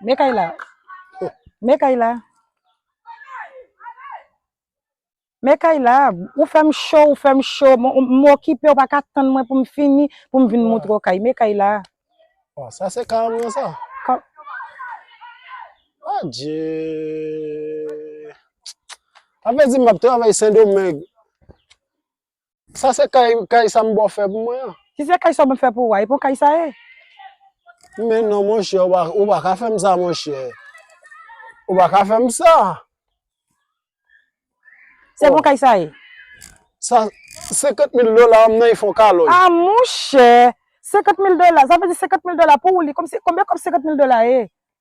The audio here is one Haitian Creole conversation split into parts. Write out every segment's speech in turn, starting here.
Men Kayla. Men Kayla. Men Kayla, ou fèm cho, ou fèm cho. M okipe, ou pa ka tann mwen pou m fini, pou m vin moutre w kay. Men Kayla. Bon, sa se ka mwen sa. Ka... Adye... Ape di m ap travay Sendomeng. Sa se kay kay sa m bò fè pou mwen an. Si se kay sa w mwen fè pou ou a, e bon kay sa ye. Men non monchè, ou pa ka fè m sa monchè. Ou pa ka fè m sa. Se bon kay sa ye. Sa, 50 mil dola an nan y fon kalòj. A monchè! 50 mil dola, sa vle di 50 mil dola pou ou li, konbyen kòb 50 mil dola ye?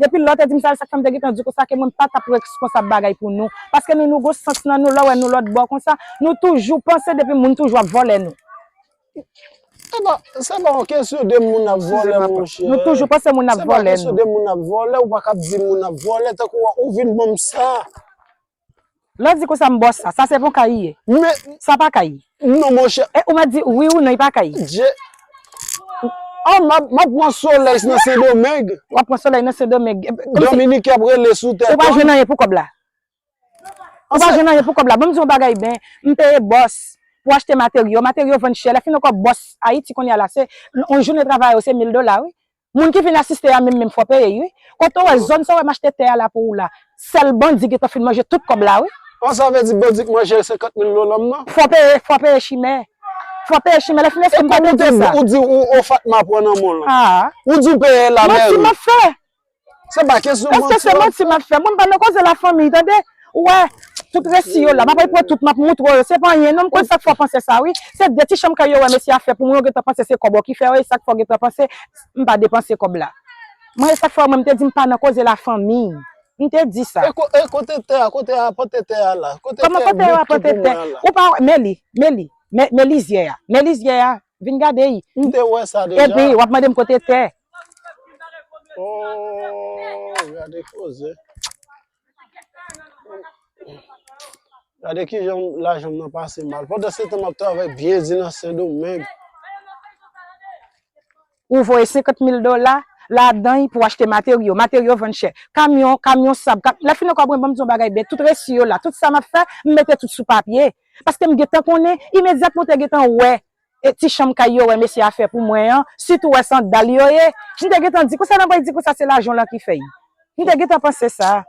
Depi lè w te di m sa, sa k fè m te gentan di w konsa ke mwen m pa t ap reskonsab bagay pou nou. Paske nou nou gon sans nan nou, lè w wè nou lòt bò konsa, nou toujou panse depi moun toujou ap vòlè nou. Se pa, se pa yon kesyon de moun ap Eskize vòlè m apa. monchè. Nou toujou panse moun ap Se pa vòlè kesyon nou. de moun ap vòlè, ou pa ka ap di moun ap vòlè tankou ou vin ban m sa. Lè w di konsa m bòs sa. Sa se pou kayi ye. Men. Sa pa kayi. Non monchè. E ou mèt di wi ou non e pa kayi. Je. Oh m ap pran solèy nan sendomeng. W ap pran solèy nan sendomeng. Dominiken ap rele sou tèt ou. Ou pa jwenn anyen pou kòb la. Ou pa jwenn anyen pou kòb la. Bon m di w yon bagay ben. M peye bòs pou achte materyo. Materyo vann chè. Lè fin an kò bòs ayiti kounye a la se yon jounen travay ou se mil dola wi. Moun ki vin asiste a menm menm fò peye ui. Kote w wè zòn sa w wè m achte tè a la pou ou la. Sèl bandi gentan fin manje tout kòb la wi. An sa vle di bandi k manje l 50 mil dola m nan. Fò peye fò peye chimè. Fò peye chimè lè fin eske m pa te di sa. E kòm ou te di ou ou fatma pran nan men w lan. Ou di w peye l la mèri. Manti m ap fè. Se pa kesyon manti. Eske se manti m ap fè. Bon m pa nan koze la fanmiy tande. Ou wè, tout resi yo la, m ap al pran tout m ap moutre w yo, se pa anyen non, m konn sa k fè w panse sa wi, se de ti chanm kay yo wè mesye a fè pou mwen yo gentan panse se kòb w ki fè yo, e sa k fè w gentan panse m pa depanse kòb la. Mwen e sa k fè mwen m te di m pa nan koze lafanmi, m te di sa. E kote tè a, kote yo apante tè a la, kote tè a bouch tou pou mwen an la? Ou pa wè, men li, men li, men lizyè a, men lizyè a, vin gade y. M te wè sa deja. Epi w ap mande m kote tè. Oo, gade koze. Gade ki jan lajan m nan pase mal. Pandan se tan m ap travay byen di nan Sen Domeng. Ou voye 50 mil dola ladan pou achte materyo. Materyo vann chè. Kamyon, kamyon sab. Lè fin ankò mwen banm di yon bagay byen. Tout resi yo la. Tout sa m ap fè, m mete tout sou papye. Paske m gentan konnen, imedyatman ou te gentan wè e ti chanm kay yo wè mesye a fè pou mwen an sitou wè sandal yo ye m te gentan di konsa nan pral di konsa se lajan w lan ki fè y m te gentan panse sa.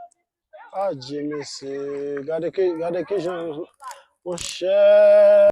Adje mesye gade ki gade kijan monchè.